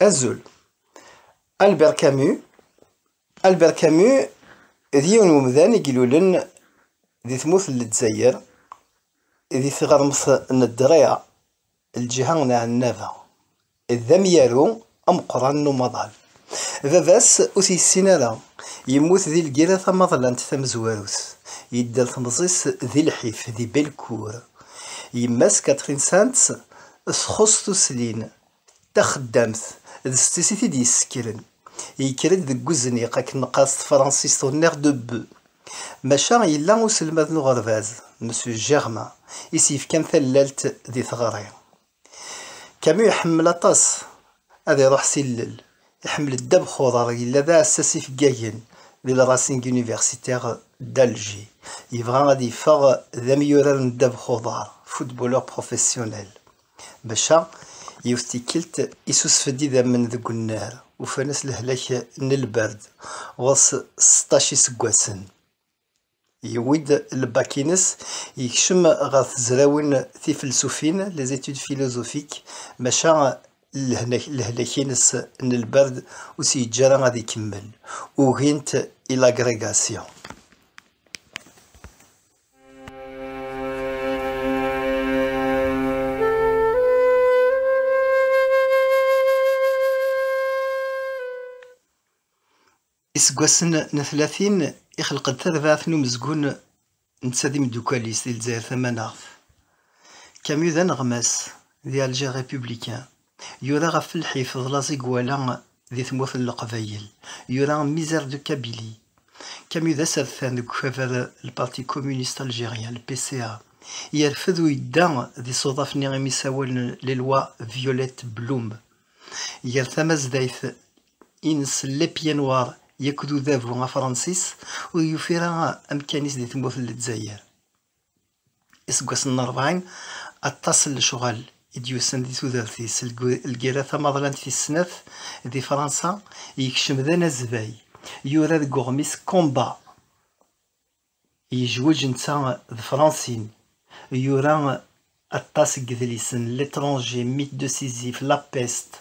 Azul. Albert Camus. Albert Camus d yiwen umdan i ilulen di tmurt n Lezzayer di tɣermt n Ddṛiɛ, lǧiha n Ɛennaba. D amyaru ameqqran n umaḍal. Baba-s ur t-yessin ara, yemmut di lgirra tamaḍlant tamezwarut, yedder temẓi-s di lḥif, di Belcour. Yemma-s Catherine Sands txuṣṣ tuslin, d taxeddamt, d setti-s i t-id-yessekren. Yekker-d deg wezniq akken neqqar s tefransist au nerf de bœuf. Maca yella uselmad n uɣerbaz, Monsieur Germain, i s-yefkan tallalt di teɣri. Camus iḥemmel aṭas ad iruḥ s ilel. Iḥemmel Ddabex Xuḍar, yella d aɛessas ifeggagen di le Racing Universitaire d'Alger. Yebɣa ad yeffeɣ d amyurar n Ddabex Xuḍar, footballeur professionnel. Maca, yiwet tikkelt, isusef-d idammen deg unnar, ufan-as lehlak n lberd, ɣur-s seṭṭac iseggasen. Yewwi-d lbak-ines, yekcem ɣer tezrawin tifelsufin, les études philosophiques, maca lehlak-ines n lberd ur s-yeǧǧi ara ad ikemmel, ugin-t i l'agrégation. Iseggasen n tlatin, ixleq-d tarbaɛt n umezgun netta d imeddukal-is di Lezzayer Tamanaɣt. Camus d aneɣmas di Alger Républicain. Yura ɣef lḥif d laẓ i iwala di tmurt n Leqbayel. Yura Misère de Kabylie. Camus d asertan deg ukabar Le Parti Communiste Algérien, le PCA. Yerfed u yedda d isuḍaf-nni imi sawalen Les Lois Violettes Blum. Ger tamazdayt ines n Le Pied Noir akked udabu afransis ur yufi ara amkan-is di tmurt n Lezzayer. Iseggasen n rebɛin, aṭas n lecɣal i d-yusan di tudert-is, lgerra tamaḍlant tis snat di Fransa, yekcem d anazbay, yura deg uɣmis Combat! Yejweǧ netta d Francine. Yura aṭas n yedlisen, L'étranger, Mythe de Sisyphe, La peste.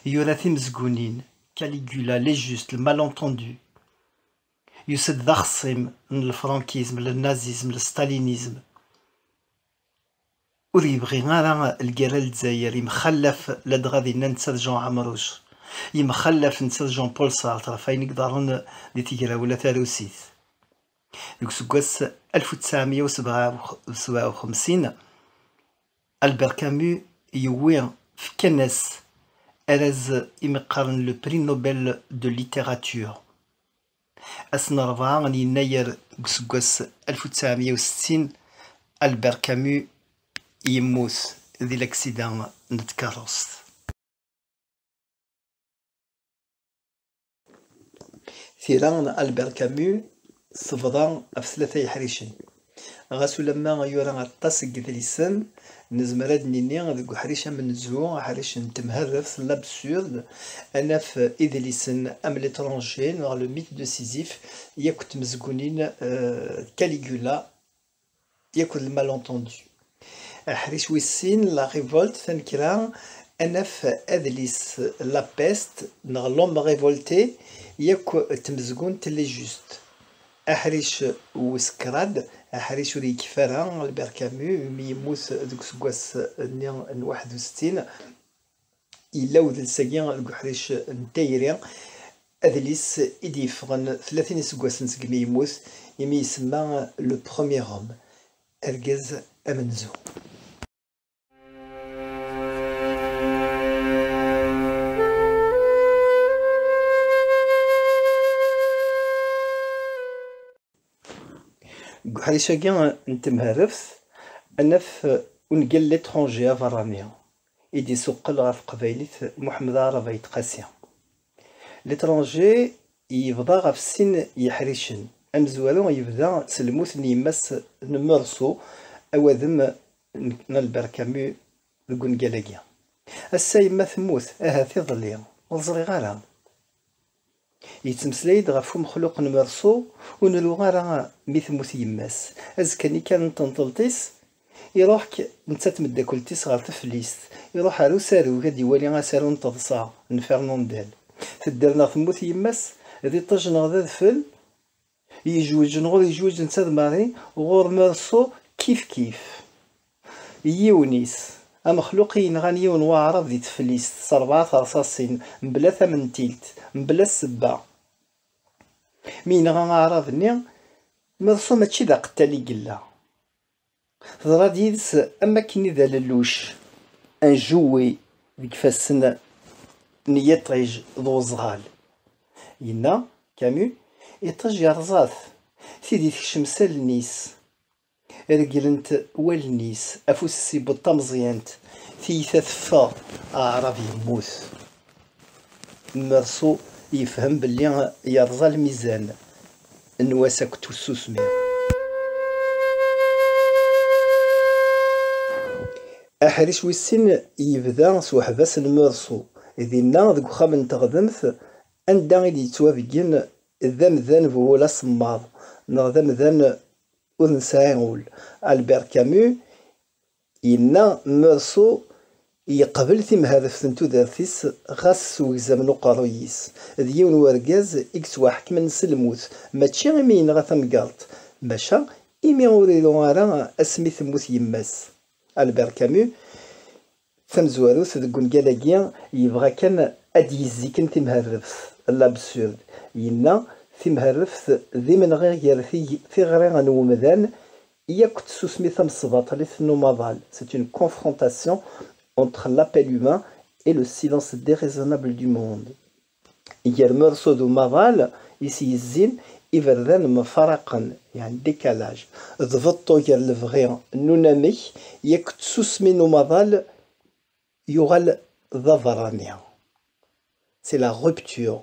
Yura timezgunin, Caligula, Les Justes, Le Malentendu. Yusa-d d axeṣṣim n lefrankism, le nazisme, le stalinisme. Ur yebɣi ara lgerra Lezzayer yemxallaf ladɣa dinna netta d Jean Ɛemruc, yemxallaf netta d Jean Paul Sartre ɣef wayen i iḍerren di tegrawla tarusit. Deg useggas alef u ttɛemya u sebɛa u xemsin, Albert Camus yewwi, fkan-as araz i mi qqaren le Prix Nobel de Littérature. Ass n rebɛa n yennayer deg useggas alef u ttɛemya u settin, Albert Camus yemmut di laksida n tkerrust. Tira n Albert Camus tebḍa ɣef tlata yeḥricen, Ɣas ulamma yura aṭas n yedlisen, nezmer ad d-nini deg uḥric amenzu, aḥric n temherreft, l'absurde, ad naf idlisen am L'Etranger neɣ Le Mythe de Sisyphe yakk d tmezgunin d Caligula yakk d Le Malentendu. Aḥric wis sin, La Révolte, Tanekra, ad naf adlis La Peste neɣ L'Homme révolté yakk d tmezgunt Les Justes. Aḥric wis kraḍ, aḥric ur yekfi ara, Albert Camus, umi yemmut deg useggas-nni n waḥed u settin. Yella udles-agi deg uḥric n tayri, adlis i d-yeffɣen tlatin iseggasen segmi yemmut, imi isemma Le Premier Homme. argaz amenzu. Deg uḥric-agi n temherreft, ad naf ungal L'étranger aberrani, i d-isuqqel ɣer teqbaylit Muḥemmed Aɛrab Ayt Qasi. L'étranger yebḍa ɣef sin yeḥricen, amezwaru yebda s lmut n yemma-s n Meursault, awadem n Albert Camus deg ungal-agi. Ass-a yemma temmut, ahat iḍelli, ur ẓriɣ ara. Yettmeslay-d ɣef umexluq n Meursault, ur nru ara mi temmut yemma-s, azekka-nni kan n tenṭelt-is Iruḥ netta d tmeddakelt-is ɣer teflist, iruḥ ar usarug ad d-iwali asaru n teḍsa n Fernandel. Tedder neɣ temmut yemma-s, d iṭij neɣ d adfel, yejweǧ neɣ ur yejweǧ netta d Marie, ɣur Meursault kif kif. Yiwen-is, amexluq i yenɣan yiwen n waɛrab di teflist s rebɛa terṣaṣin, mebla tamentilt, mebla ssebba. Mi yenɣa aɛrab-nni, Meursault mačči d aqettal i yella. Teḍra yid-s am wakken i d alelluc anjewwi deg ifassen n yiṭij d uẓɣal. Yenna Camus, Iṭij yerẓa-t, tidi tekcem s allen-is, regglen-t wallen-is, afus-is yewweḍ tameẓyant, tiyita teffeɣ, aɛrab yemmut. Meṛsu yefhem belli yerẓa lmizan, n wass akked tussusmi. Aḥric wis sin yebda s uḥbas n Meṛsu, dinna deg uxxam n teɣdemt anda i d-yettwabeggen d amdan bu wul asemmaḍ neɣ d amdan ur nesɛi ul. Albert Camus Yenna Meursault yeqbel timhadeft n tudert-is ɣas s wegzam n uqerruy-is, d yiwen n urgaz i yettwaḥekmen s lmut, mačči imi yenɣa tamgerḍt, maca imi ur iru ara asmi temmut yemma-s. Albert Camus, d tamezwarut deg wungal-agi, yebɣa kan ad d-yezziken timhadeft, l'absurde. Yenna, Timhadeft d imenɣi gar tiɣri n umdan Yak tsusmi tamesbaṭlit n umaḍal, c'est une confrontation entre l'appel humain et le silence déraisonnable du monde. Gar mersu d umaḍal i s-yezzin, iberdan mfaraqen, il y a un décalage. D beṭṭu gar lebɣi n unamek, yak tsusmi n umaḍal yuɣal d aberrani, c'est la rupture.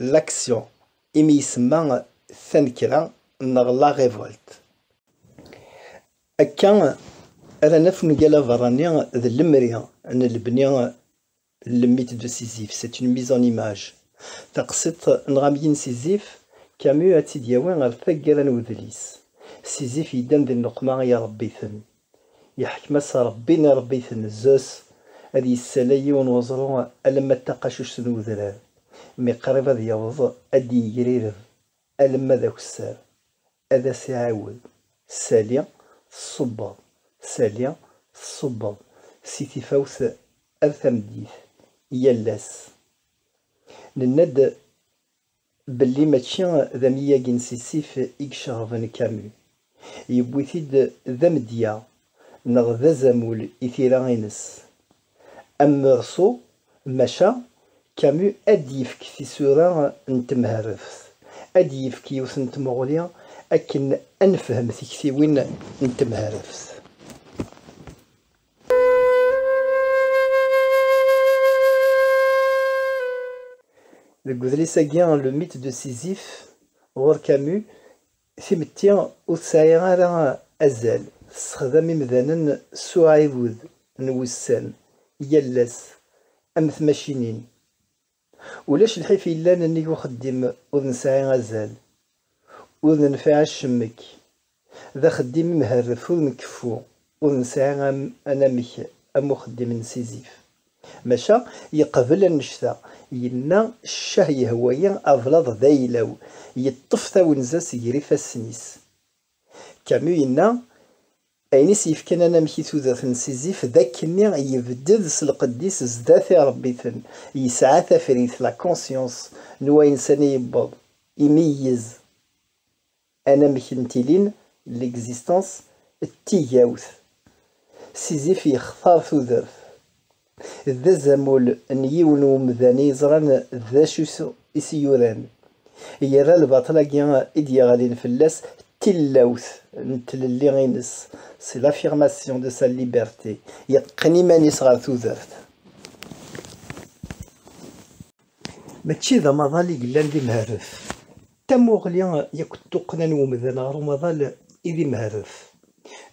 L'action, imi isemma tanekra neɣ la révolte. Akka ara naf ungal aberrani d lemri n lebni le mythe de Sisyphe, c'est une mise en image. Taqsiḍt neɣ amgi n Sisyphe, Camus ad tt-id-yawi ɣer taggara n udlis. Sisyphe yeddan di nneqma iṛebbi-ten. Yeḥkem-as Ṛebbi i Ṛebbi tnezzes, ad yessalay yiwen weẓru alamma d taqacuct n udrar, mi qrib ad yaweḍ ad d-yegrireb alamma d akessar, ad as-iɛiwed, Sali, tṣubbeḍ, sali, tṣubbeḍ, si tifawt ar tameddit, yal ass. Nenna-d belli mačči d amyag n Sisif i iceɣben Camus, yewwi-t-id d amedya neɣ d azamul i tira-ines Am Meursault, maca Camus ad d-yefk tisura n temherreft, ad d-yefk yiwet n tmuɣli akken ad nefhem tiktiwin n temherreft. deg udlis-agi le mythe de Sisyphe ɣur Camus timetti ur tesɛi ara azal tessexdam imdanen s uɛiwed n wussan yal ass am tmacinin Ulac lḥif yellan nnig uxeddim ur nesɛi azal, ur nenfiɛ acemmek, d axeddim imherref ur nkeffu, ur nesɛi anamek am uxeddim n Sizif. Maca yeqbel annect-a, yenna, Ccah yehwa-yi ablaḍ d ayla-w, yeṭṭef tawenza seg-r ifassen-is. Camus yenna, Ayen i s-yefkan anamek i tudert n Sisyphe d akkenni yebded s lqedd-is sdat irebbiten, yesɛa tafrit, la conscience, n wayen sani yewweḍ, imeyyez anamek n tilin, l'existence, d tigawt. Sisyphe yextar tudert. D azamul n yiwen n umdan i yeẓran d acu i s-yuran, yerra lbaṭel-agi i d-yeɣlin fell-as d tilawt n tlelli-ines, c'est l'affirmation de sa liberté, yeqqen iman-is ɣer tudert. Mačči d amaḍal i yellan d imherref. Tamuɣli yakk d tuqqna n umdan ɣer umaḍal i d imherref.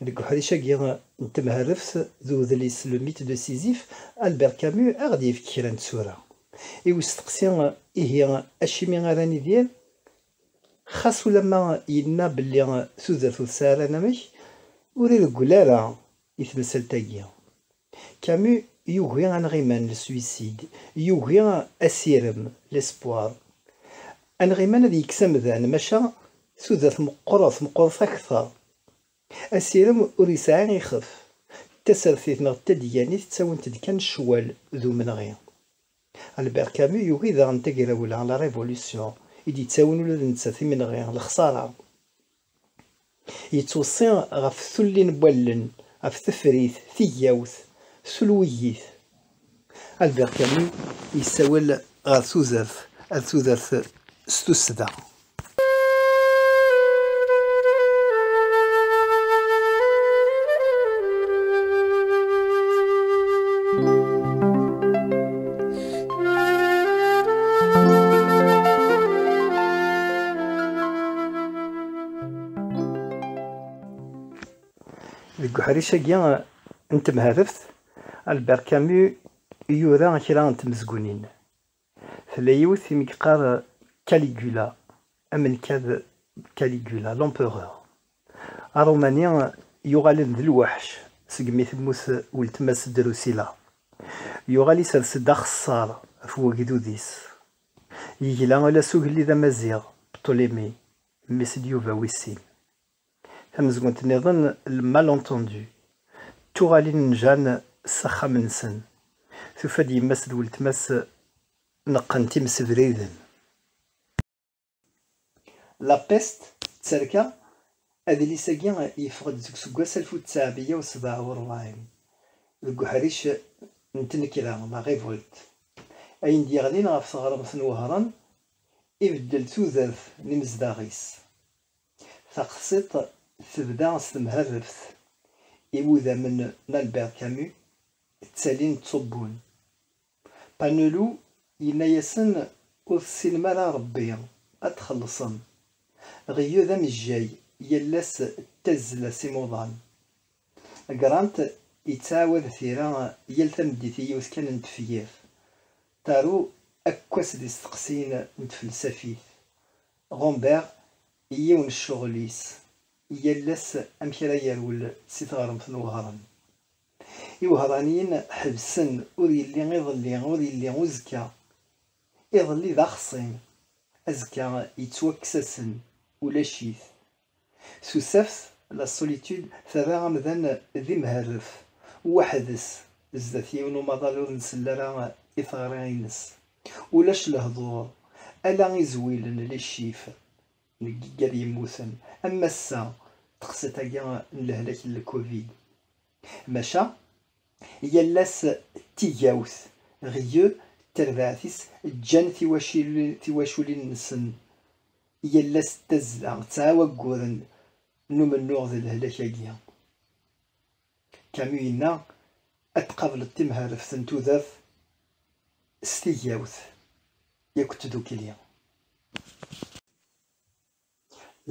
Deg uḥric-agi n temherreft d udlis Le mythe de Sisyphe, Albert Camus a ɣ-d-yefk kra n tsura. I usteqsi ihi acimi ara nidir? Xas ulamma yenna belli tudert ur tesɛi ara anamek, ur ireggel ara i temsalt-agi. Camus yugi anɣiman, le suicide, yugi asirem, l'espoir. Anɣiman ad yekkes amdan, maca tudert meqqret, meqqret akteṛ. Asirem ur yesɛi ixef. Tasertit neɣ tadyanit ttawint-d kan ccwal d umenɣi. Albert Camus yugi daɣen tagrawla, la révolution, i d-yettawin ula d nettat imenɣi, lexṣara. Yettweṣṣi ɣef tullin n wallen, ɣef tefrit, tigawt, tulwigit. Albert Camus yessawel ɣer tudert, ar tudert s tussda. Deg uḥric-agi n temharaft, Albert Camus yura kra n tmezgunin. Tella yiwet i m-yeqqar Caligula, amenkad Caligula, l'empereur. Aṛumani yuɣalen d lweḥc segmi temmut weltma-s Drusilla. Yuɣal isers-d axeṣṣar ɣef wegdud-is. Yegla ala s ugellid amaziɣ Ptolémée, mmi-s n Yuba wis sin. Tamezgunt niḍen, le malentendu, tuɣalin n Jeanne s axxam-nsen, tufa-d yemma-s d weltma-s neqqen-t imsebriden. La Peste, Tterka, adlis-agi yeffeɣ-d deg useggas alef u ttɛemya u sebɛa u rebɛin, deg uḥric n tnekra, la révolte, ayen d-yeɣlin ɣef teɣremt n Wehran, ibeddel tudert n imezdaɣ-is. Taqsiṭ tebda s temherreft, iwudammen n Albert Camus ttalin ttṣubbun. Panelu yenna-yasen, Ur tessinem ara Ṛebbi, ad txellṣem. Ɣiyu d amejjay, yal ass d tazzla-s imuḍan. Grant yettɛawad tira yal tameddit i yiwet kan n tefyirt. Taru akkwas d isteqsiyen n tfelsafit. Ɣumbert i yiwen n ccɣel-is, yal ass amek ara yerwel si tɣremt n uɣrem. Iwehṛaniyen ḥebsen, ur yelli iḍelli, ur yelli uzekka. Iḍelli d axṣim, azekka yettwakkes-asen, ulac-it. Tusaft, la solitude, terra amdan d imherref, weḥd-s, zdat yiwen umaḍal ur nsell ara i teɣri-ines. Ulac lehduṛ, ala izwilen, les chiffres. deg yiggad yemmuten am massa teqsiṭ-agi n lehlak n lkuvid. Maca yal ass d tigawt, ɣieu, tarbaɛt-is ǧǧan tiwaculin-nsen yal ass d tazla, ttɛawagguren n umennuɣ d lehlak-agi. Camus yenna ad tqableḍ timhareft n tudert s tigawt yakk tdukli.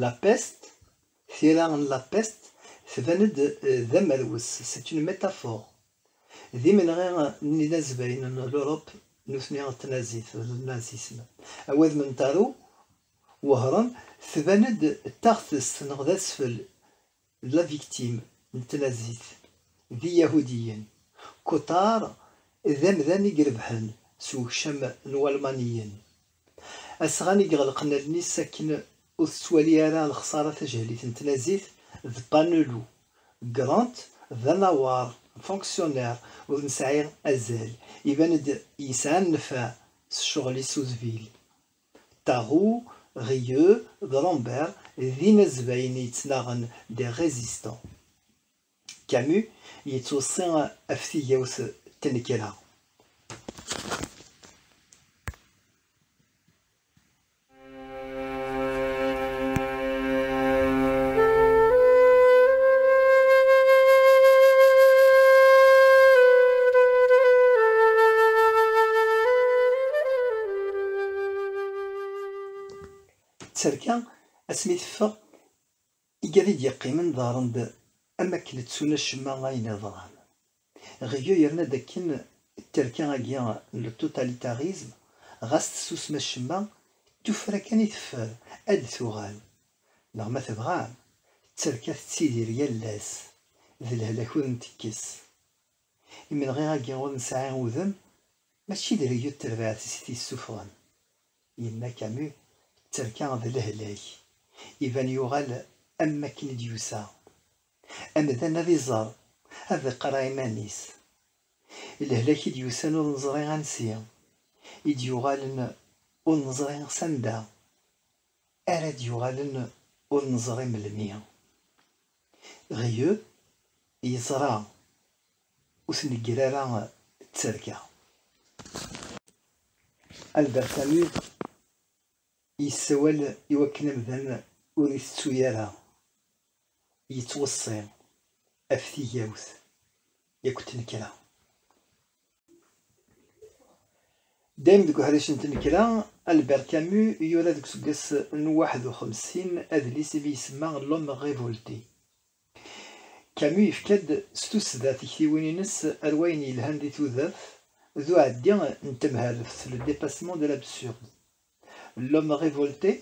La Peste, Tira n La Peste tban-d d amerwes, c'est une métaphore, d imenɣi n yinazbayen n l'Europe nutni d tnazit, d le nazisme. Awadem n Taru Wehran tban-d d taɣtest neɣ d asfel d la victime n tlazzit d iyahudiyen. Kutar d amdan i irebḥen s wekcam n walmaniyen. Asɣan i iɣelqen allen-is akken ur tettwali ara lexsara tajehlit n tnazzit d Panelu. Grant d anawar, fonctionnaire, ur nesɛi azal, iban-d yesɛa nnfeɛ s ccɣel-is uzbil. Tahu, Rieu, Grand-Père, d inazbayen yettnaɣen, des résistants. Camus yettweṣṣi ɣef tigawt d tnekra. Tterka asmi teffeɣ, igad i d-yeqqimen ḍerren-d am akken ttun acemma ayen iḍran. Rieu yerna-d akken tterka agi n le totalitarisme ɣas tessusem acemma, tuffra kan i teffer ad d-tuɣal. Neɣ ma tebɣam, tterka tettidir yal ass d lehlak ur ntekkes. Imenɣi-agi ur nesɛi udem, mačči d rryu d terbaɛt is t-yessuffɣen. Yenna Camus, tterka d lehlak. Iban yuɣal am wakken i d-yusa. Amdan ad iẓer, ad iqqar i iman-is. Lehlak i d-yusan ur neẓri ansi, i d-yuɣalen ur neẓri s anda ara d-yuɣalen ur neẓri melmi. Ɣyeb yeẓra ur tnegger ara tterka. Albert Camus yessawal i wakken amdan ur itettu ara, yettweṣṣi ɣef tigawt yakk tnekra. Dayem deg uḥric n tnekra, Albert Camus yura deg useggas n waḥed u xemsin adlis imi isemma L'homme révolté. Camus yefka-d s tussda tiktiwin-ines ar wayen yelhan di tudert d uɛeddi n temherreft, le dépassement de l'absurde. L'homme révolté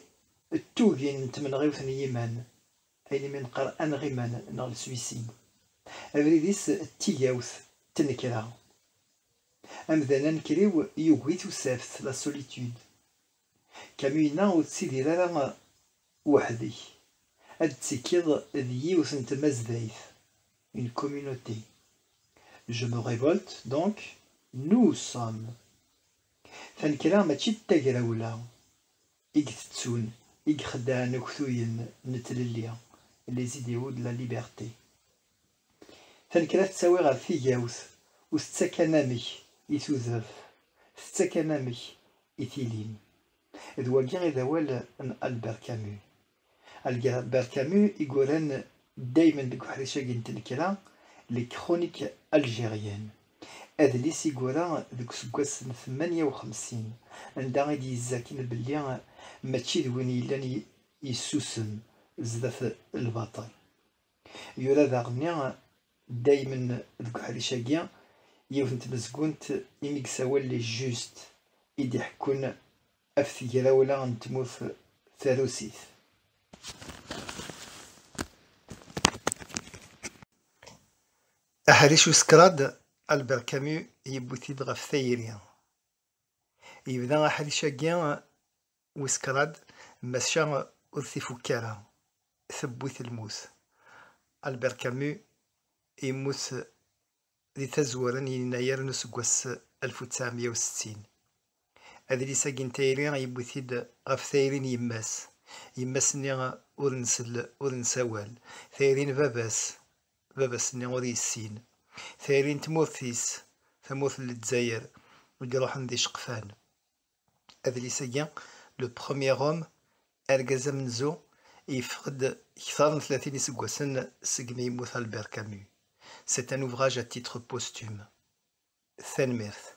d tugin n tmenɣiwt n yiman, Ayen imi neqqar aneɣ iman neɣ le suicide, abrid-is d tigawt, tnekra. Amdan anekriw yugi tusaft, la solitude. Camus yenna ur tettidir ara weḥd-k, ad d-tettikkiḍ d yiwet n tmazdayt, une communauté. Je me révolte, donc, nous sommes. Tanekra mačči d tagrawla. i itettun, i ixeddɛen aktuyen n tlelli, les idéaux de la liberté. Tanekra tettawi ɣer tigawt, ur tettak anamek i tudert, tettak anamek i tilin. D wagi i d awal n Albert Camus. Albert Camus i yuran daymen deg uḥric-agi n tnekra, Les Chroniques Algériennes, adlis i yura deg useggas n tmanya u xemsin, anda i d-yezzaken belli mačči d win yellan yessusem zdat lbaṭel. Yura daɣenni daymen deg uḥric-agi yiwet n tmezgunt imi i yessawal Les Justes, i d-iḥekkun ɣef tegrawla n tmurt tarusit. Aḥric wis kraḍ, Albert Camus yewwi-t-id ɣef tayri. Yebda aḥric-agi Wis kraḍ, maca ur t-ifukk ara, tewwi-t lmut. Albert Camus yemmut di tazwara n yennayer n useggas alef u ttɛemya u settin. Adlis-agi n tayri yewwi-t-id ɣef tayri n yemma-s, yemma-s-nni ur nsell, ur nessawal, tayri n baba-s, baba-s-nni ur yessin, tayri n tmurt-is, tamurt n Lezzayer, i iruḥen d iceqfan. Adlis-agi, Le Premier Homme, Argaz Amenzu, yeffeɣ-d kter n tlatin iseggasen segmi yemmut Albert Camus. C'est un ouvrage à titre posthume. Tanemmirt.